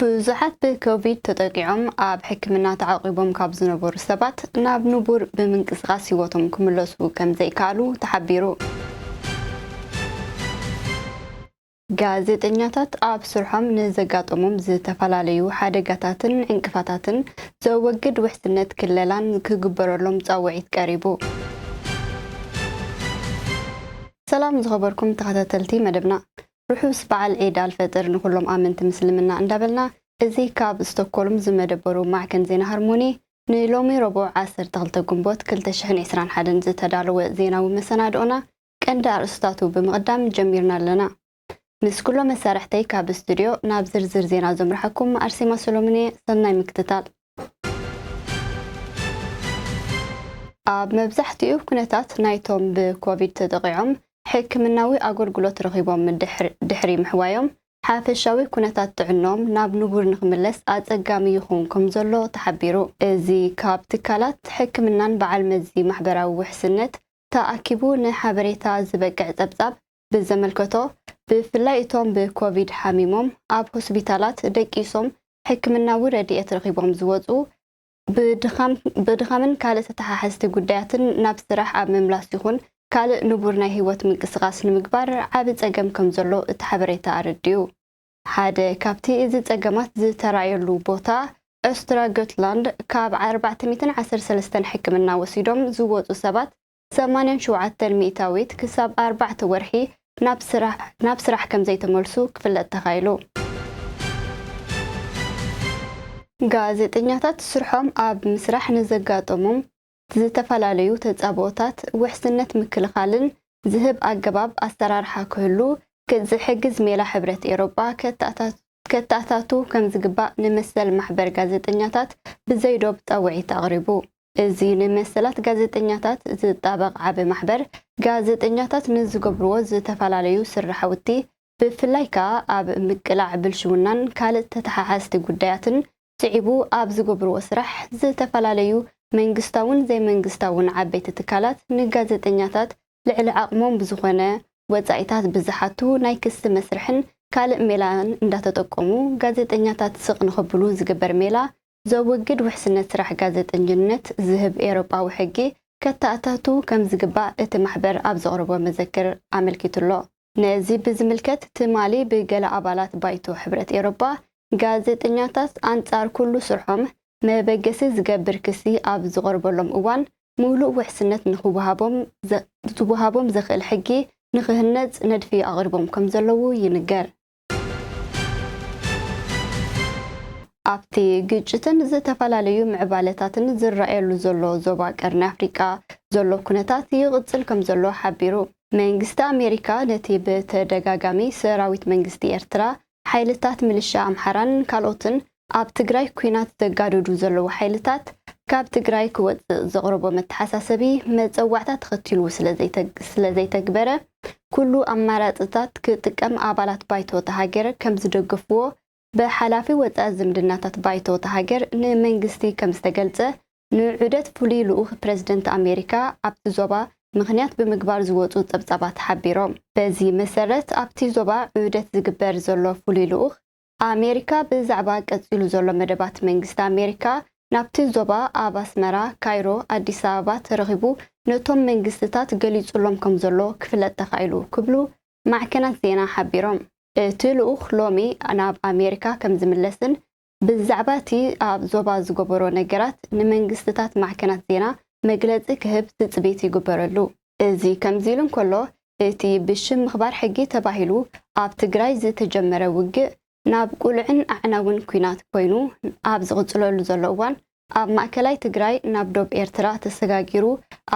ብዙሓት ብኮቪድ ተጠቂዖም ኣብ ሕክምና ተዓቚቦም ካብ ዝነበሩ ሰባት ናብ ንቡር ብምንቅስቓስ ህይወቶም ክምለሱ ከምዘይከኣሉ ተሓቢሩ። ጋዜጠኛታት ኣብ ስርሖም ንዘጋጠሞም ዝተፈላለዩ ሓደጋታትን ዕንቅፋታትን ዘወግድ ውሕስነት ክለላን ክግበረሎም ፃውዒት ቀሪቡ። ሰላም ዝኸበርኩም ተኸታተልቲ መደብና። ርሑስ በዓል ዒድ ኣልፈጥር ንኹሎም ኣመንቲ ምስልምና እንዳበልና እዚ ካብ ስቶኮልም ዝመደበሩ ማዕከን ዜና ሃርሞኒ ንሎሚ ረቡዕ ዓሰርተ ክልተ ግንቦት ክልተ ሽሕን ዕስራን ሓደን ዝተዳለወ ዜናዊ መሰናድኦና ቀንዲ ኣርእስታቱ ብምቕዳም ጀሚርና ኣለና። ምስ ኩሎም መሳርሕተይ ካብ ስቱድዮ ናብ ዝርዝር ዜና ዘምርሓኩም ኣርሴማ ሰሎሙን እየ ሰናይ ምክትታል። ኣብ መብዛሕትኡ ኩነታት ናይቶም ብኮቪድ ተጠቒዖም ሕክምናዊ ኣገልግሎት ረኺቦም ድሕሪ ምሕዋዮም ሓፈሻዊ ኩነታት ጥዕንኦም ናብ ንቡር ንክምለስ ኣፀጋሚ ይኸውን ከምዘሎ ተሓቢሩ። እዚ ካብ ትካላት ሕክምናን በዓል መዚ ማሕበራዊ ውሕስነት ተኣኪቡ ንሓበሬታ ዝበቅዕ ፀብፃብ ብዘመልከቶ፣ ብፍላይ እቶም ብኮቪድ ሓሚሞም ኣብ ሆስፒታላት ደቂሶም ሕክምናዊ ረድኤት ረኺቦም ዝወጹ፣ ብድኻምን ካልእ ተተሓሓዝቲ ጉዳያትን ናብ ስራሕ ኣብ ምምላስ ይኹን ካልእ ንቡር ናይ ህይወት ምንቅስቓስ ንምግባር ዓቢ ጸገም ከምዘሎ እቲ ሓበሬታ ኣረዲኡ። ሓደ ካብቲ እዚ ጸገማት ዝተራእየሉ ቦታ ኦስትራ ጎትላንድ ካብ ኣርባዕተ ሚእትን ዓሰርተ ሰለስተን ሕክምና ወሲዶም ዝወጹ ሰባት ሰማንያን ሸውዓተን ሚእታዊት ክሳብ ኣርባዕተ ወርሒ ናብ ስራሕ ከምዘይተመልሱ ክፍለጥ ተኻኢሉ። ጋዜጠኛታት ስርሖም ኣብ ምስራሕ ንዘጋጠሞም ዝተፈላለዩ ተፃብኦታት ውሕስነት ምክልኻልን ዝህብ ኣገባብ ኣሰራርሓ ክህሉ ዝሕግዝ ሜላ ሕብረት ኤውሮጳ ከተኣታቱ ከምዝግባእ ንመሰል ማሕበር ጋዜጠኛታት ብዘይዶብ ፃውዒት ኣቕሪቡ። እዚ ንመሰላት ጋዜጠኛታት ዝጣበቕ ዓቢ ማሕበር፣ ጋዜጠኛታት ንዝገብርዎ ዝተፈላለዩ ስርሓውቲ፣ ብፍላይ ከኣ ኣብ ምቅላዕ ብልሽውናን ካልእ ተተሓሓዝቲ ጉዳያትን ስዒቡ ኣብ ዝገብርዎ ስራሕ፣ ዝተፈላለዩ መንግስታውን ዘይመንግስታውን ዓበይቲ ትካላት ንጋዜጠኛታት ልዕሊ ዓቕሞም ብዝኾነ ወጻኢታት ብዝሓቱ ናይ ክሲ መስርሕን ካልእ ሜላን እንዳተጠቀሙ ጋዜጠኛታት ስቕ ንኸብሉ ዝግበር ሜላ ዘወግድ ውሕስነት ስራሕ ጋዜጠኝነት ዝህብ ኤውሮጳዊ ሕጊ ከተኣታቱ ከም ዝግባእ እቲ ማሕበር ኣብ ዘቕረቦ መዘክር ኣመልኪቱ'ሎ። ነዚ ብዝምልከት ትማሊ ብገለ ኣባላት ባይቶ ሕብረት ኤውሮጳ ጋዜጠኛታት ኣንጻር ኩሉ ስርሖም መበገሲ ዝገብር ክሲ ኣብ ዝቐርበሎም እዋን ምሉእ ውሕስነት ንኽወሃቦም ዝወሃቦም ዘኽእል ሕጊ ንኽህነጽ ነድፊ ኣቕሪቦም ከም ዘለዉ ይንገር። ኣብቲ ግጭትን ዝተፈላለዩ ምዕባለታትን ዝረኣየሉ ዘሎ ዞባ ቀርኒ ኣፍሪቃ ዘሎ ኩነታት ይቕጽል ከምዘሎ ሓቢሩ። መንግስቲ ኣሜሪካ ነቲ ብተደጋጋሚ ሰራዊት መንግስቲ ኤርትራ፣ ሓይልታት ምልሻ ኣምሓራን ካልኦትን ኣብ ትግራይ ኲናት ዘጋድዱ ዘለዉ ሓይልታት ካብ ትግራይ ክወፅእ ዘቕረቦ መተሓሳሰቢ መፀዋዕታ ተኸቲሉ ስለዘይተግበረ ኩሉ ኣማራፅታት ክጥቀም ኣባላት ባይቶ እታ ሃገር ከምዝደገፍዎ ብሓላፊ ወፃኢ ዝምድናታት ባይቶ እታ ሃገር ንመንግስቲ ከምዝተገልፀ ንዑደት ፍሉይ ልኡኽ ፕረዚደንት ኣሜሪካ ኣብቲ ዞባ ምኽንያት ብምግባር ዝወፁ ፀብፃባት ሓቢሮም። በዚ መሰረት ኣብቲ ዞባ ዑደት ዝግበር ዘሎ ፍሉይ ልኡኽ ኣሜሪካ ብዛዕባ ቀጺሉ ዘሎ መደባት መንግስቲ ኣሜሪካ ናብቲ ዞባ ኣብ ኣስመራ፣ ካይሮ፣ ኣዲስ ኣበባ ተረኺቡ ነቶም መንግስትታት ገሊጹሎም ከምዘሎ ክፍለጥ ተኻኢሉ ክብሉ ማዕከናት ዜና ሓቢሮም። እቲ ልኡኽ ሎሚ ናብ ኣሜሪካ ከምዝምለስን ብዛዕባ እቲ ኣብ ዞባ ዝገበሮ ነገራት ንመንግስትታት ማዕከናት ዜና መግለጺ ክህብ ትጽቢት ይግበረሉ። እዚ ከምዚሉ እንከሎ፣ እቲ ብሽም ምኽባር ሕጊ ተባሂሉ ኣብ ትግራይ ዝተጀመረ ውግእ ናብ ቅሉዕን ኣዕናውን ኲናት ኮይኑ ኣብ ዝቕፅለሉ ዘሎ እዋን ኣብ ማእከላይ ትግራይ ናብ ዶብ ኤርትራ ተሰጋጊሩ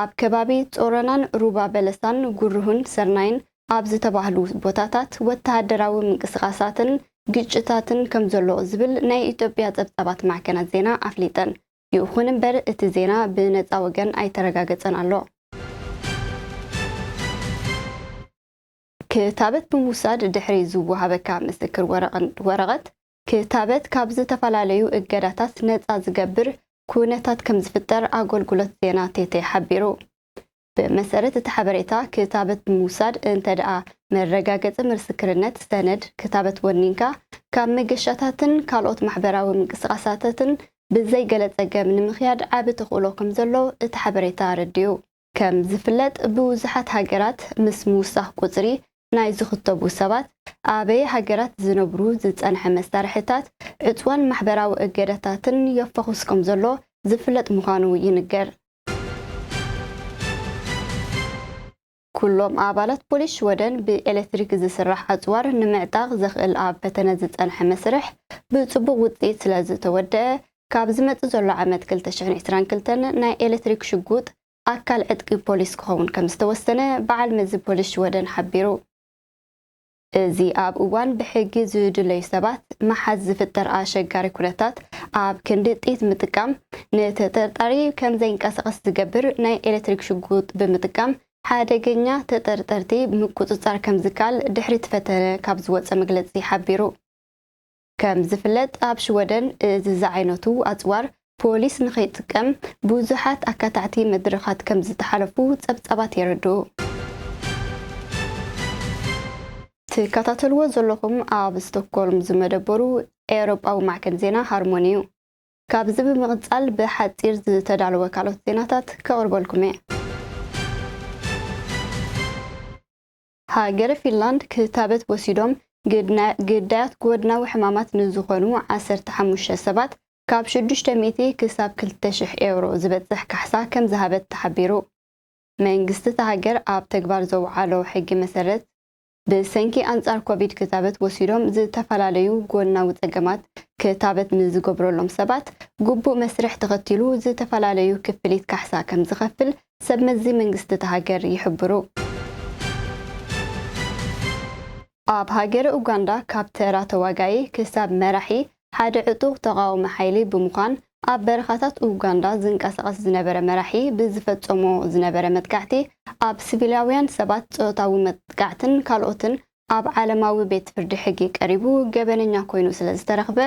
ኣብ ከባቢ ፆሮናን ሩባ በለሳን ጉርሁን ሰርናይን ኣብ ዝተባህሉ ቦታታት ወተሃደራዊ ምንቅስቓሳትን ግጭታትን ከምዘሎ ዝብል ናይ ኢትዮጵያ ፀብፃባት ማዕከናት ዜና ኣፍሊጠን። ይኹን እምበር እቲ ዜና ብነጻ ወገን ኣይተረጋገጸን ኣሎ። ክታበት ብምውሳድ ድሕሪ ዝወሃበካ ምስክር ወረቐት ክታበት ካብ ዝተፈላለዩ እገዳታት ነጻ ዝገብር ኩነታት ከምዝፍጠር ኣገልግሎት ዜና ቴቴ ሓቢሩ። ብመሰረት እቲ ሓበሬታ ክታበት ብምውሳድ እንተድኣ መረጋገጺ ምስክርነት፣ ሰነድ፣ ክታበት ወኒንካ፣ ካብ መገሻታትን ካልኦት ማሕበራዊ ምንቅስቓሳትትን ብዘይ ገለ ጸገም ንምክያድ ዓቢ ተኽእሎ ከም ዘሎ እቲ ሓበሬታ ኣረዲኡ። ከም ዝፍለጥ ብዙሓት ሃገራት ምስ ምውሳኽ ቁጽሪ ናይ ዝኽተቡ ሰባት፣ ኣበየ ሃገራት ዝነብሩ ዝጸንሐ መሳርሒታት ዕጽወን ማሕበራዊ እገዳታትን የፋኹስ ከም ዘሎ ዝፍለጥ ምዃኑ ይንገር። ኩሎም ኣባላት ፖሊስ ሽወደን ብኤሌክትሪክ ዝስራሕ ኣጽዋር ንምዕጣቕ ዘኽእል ኣብ ፈተነ ዝጸንሐ መስርሕ ብጽቡቕ ውጽኢት ስለዝተወደኣ ካብ ዝመጽእ ዘሎ ዓመት ክልተ ሽሕን ዕስራን ክልተን ናይ ኤሌክትሪክ ሽጉጥ ኣካል ዕጥቂ ፖሊስ ክኸውን ከምዝተወሰነ በዓል መዚ ፖሊስ ሽወደን ሓቢሩ። እዚ ኣብ እዋን ብሕጊ ዝድለዩ ሰባት ምሓዝ ዝፍጠር ኣሸጋሪ ኩነታት ኣብ ክንዲ ጥይት ምጥቃም ንተጠርጣሪ ከም ዘይንቀሳቐስ ዝገብር ናይ ኤሌክትሪክ ሽጉጥ ብምጥቃም ሓደገኛ ተጠርጠርቲ ምቁፅፃር ከምዝከኣል ድሕሪቲ ፈተነ ካብ ዝወፀ መግለፂ ሓቢሩ። ከም ዝፍለጥ ኣብ ሽወደን እዚ ዝዓይነቱ ኣጽዋር ፖሊስ ንኸይጥቀም ብዙሓት ኣካታዕቲ መድረኻት ከም ዝተሓለፉ ጸብጻባት የረድኡ። ትከታተልዎ ዘለኹም ኣብ ስቶክሆልም ዝመደበሩ ኤውሮጳዊ ማዕከን ዜና ሃርሞኒ እዩ። ካብዚ ብምቕጻል ብሓጺር ዝተዳለወ ካልኦት ዜናታት ከቕርበልኩም እየ። ሃገረ ፊንላንድ ክታበት ወሲዶም ግዳያት ጎድናዊ ሕማማት ንዝኾኑ ዓሰርተ ሓሙሽተ ሰባት ካብ ሽዱሽተ ሚእቲ ክሳብ ክልተ ሽሕ ኤውሮ ዝበጽሕ ካሕሳ ከምዝሃበት ተሓቢሩ። መንግስቲ እታ ሃገር ኣብ ተግባር ዘውዓሎ ሕጊ መሰረት ብሰንኪ ኣንጻር ኮቪድ ክታበት ወሲዶም ዝተፈላለዩ ጎድናዊ ጸገማት ክታበት ንዝገብረሎም ሰባት ግቡእ መስርሕ ተኸቲሉ ዝተፈላለዩ ክፍሊት ካሕሳ ከምዝኸፍል ሰብ መዚ መንግስቲ እታ ሃገር ይሕብሩ። ኣብ ሃገረ ኡጋንዳ ካብ ተራ ተዋጋኢ ክሳብ መራሒ ሓደ ዕጡቕ ተቓዋሚ ሓይሊ ብምዃን ኣብ በረኻታት ኡጋንዳ ዝንቀሳቐስ ዝነበረ መራሒ ብዝፈጸሞ ዝነበረ መጥቃዕቲ ኣብ ስቪላውያን ሰባት ጾታዊ መጥቃዕትን ካልኦትን ኣብ ዓለማዊ ቤት ፍርዲ ሕጊ ቀሪቡ ገበነኛ ኮይኑ ስለዝተረኽበ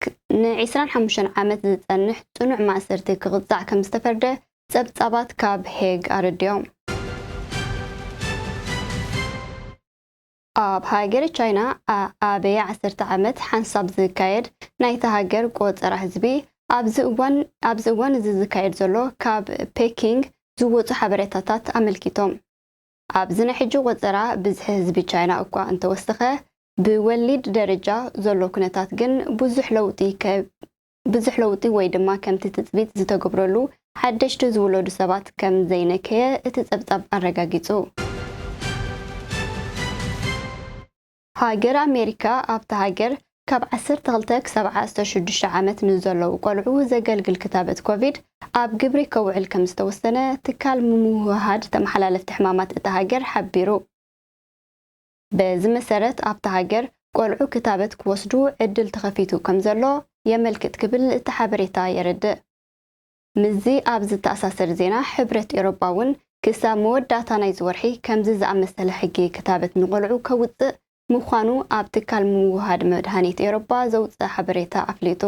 ክ ን ዕስራን ሓሙሽተን ዓመት ዝጸንሕ ጽኑዕ ማእሰርቲ ክቕጻዕ ከም ዝተፈርደ ጸብጻባት ካብ ሄግ ኣረዲኦም። ኣብ ሃገረ ቻይና ኣኣበየ ዓሰርተ ዓመት ሓንሳብ ዝካየድ ናይታ ሃገር ቆጸራ ህዝቢ፣ ኣብዚ እዋን ኣብዚ እዋን እዚ ዝካየድ ዘሎ ካብ ፔኪንግ ዝወጹ ሓበሬታታት ኣመልኪቶም። ኣብዚ ናይ ሕጂ ቆጸራ ብዝሒ ህዝቢ ቻይና እኳ እንተወሰኸ፣ ብወሊድ ደረጃ ዘሎ ኩነታት ግን ብዙሕ ለውጢ ብዙሕ ለውጢ ወይ ድማ ከምቲ ትጽቢት ዝተገብረሉ ሓደሽቲ ዝውለዱ ሰባት ከም ዘይነከየ እቲ ጸብጻብ ኣረጋጊጹ። ሃገር ኣሜሪካ ኣብታ ሃገር ካብ ዓሰርተ ክልተ ክሳብ ዓስተ ሽዱሽተ ዓመት ንዘለዉ ቆልዑ ዘገልግል ክታበት ኮቪድ ኣብ ግብሪ ከውዕል ከምዝተወሰነ ትካል ምውህሃድ ተመሓላለፍቲ ሕማማት እታ ሃገር ሓቢሩ። በዚ መሰረት ኣብታ ሃገር ቆልዑ ክታበት ክወስዱ ዕድል ተኸፊቱ ከምዘሎ የመልክት ክብል እቲ ሓበሬታ የረድእ። ምስዚ ኣብ ዝተኣሳሰር ዜና፣ ሕብረት ኤውሮጳ እውን ክሳብ መወዳእታ ናይዚ ወርሒ ከምዚ ዝኣመሰለ ሕጊ ክታበት ንቖልዑ ከውጽእ ምዃኑ ኣብ ትካል ምውህሃድ መድሃኒት ኤውሮጳ ዘውጽኣ ሓበሬታ ኣፍሊጡ።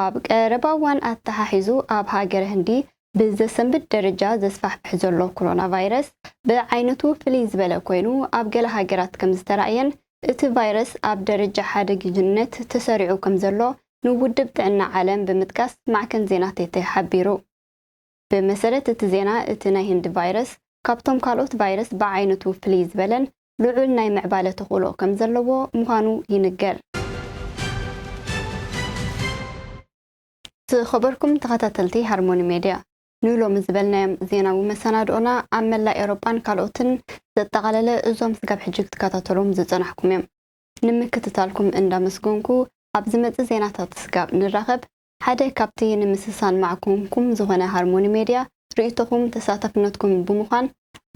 ኣብ ቀረባ እዋን ኣተሓሒዙ ኣብ ሃገረ ህንዲ ብዘሰንብድ ደረጃ ዘስፋሕፍሕ ዘሎ ኮሮናቫይረስ ብዓይነቱ ፍልይ ዝበለ ኮይኑ ኣብ ገለ ሃገራት ከምዝተራእየን እቲ ቫይረስ ኣብ ደረጃ ሓደግይነት ተሰሪዑ ከምዘሎ ንውድብ ጥዕና ዓለም ብምጥቃስ ማዕከን ዜና ቴተ ሓቢሩ። ብመሰረት እቲ ዜና እቲ ናይ ህንዲ ቫይረስ ካብቶም ካልኦት ቫይረስ ብዓይነቱ ፍልይ ዝበለን ልዑል ናይ ምዕባለ ተኽእሎ ከምዘለዎ ምዃኑ ይንገር። ዝኸበርኩም ተኸታተልቲ ሃርሞኒ ሜድያ፣ ንሎሚ ዝበልናዮም ዜናዊ መሰናድኦና ኣብ መላእ ኤውሮጳን ካልኦትን ዘጠቓለለ እዞም ስጋብ ሕጂ ክትከታተልዎም ዝጸናሕኩም እዮም። ንምክትታልኩም እንዳመስገንኩ ኣብ ዝመጽእ ዜናታት ስጋብ ንራኸብ ሓደ ካብቲ ንምስሳን ማዕኮንኩም ዝኾነ ሃርሞኒ ሜድያ ርእይቶኹም ተሳታፍነትኩም ብምዃን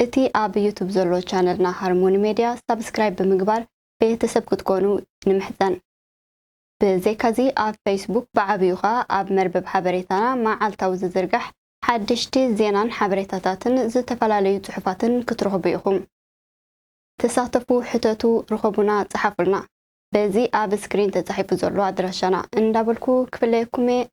እቲ ኣብ ዩቱብ ዘሎ ቻነልና ሃርሞኒ ሜድያ ሳብስክራይብ ብምግባር ቤተሰብ ክትኮኑ ንምሕጸን። ብዘይካዚ ኣብ ፈይስቡክ ብዓብዩ ከኣ ኣብ መርበብ ሓበሬታና መዓልታዊ ዝዝርጋሕ ሓደሽቲ ዜናን ሓበሬታታትን ዝተፈላለዩ ጽሑፋትን ክትረኽቡ ኢኹም። ተሳተፉ ሕተቱ ርኸቡና ጸሓፉልና በዚ ኣብ ስክሪን ተጻሒፉ ዘሎ ኣድራሻና እንዳበልኩ ክፍለየኩም'የ።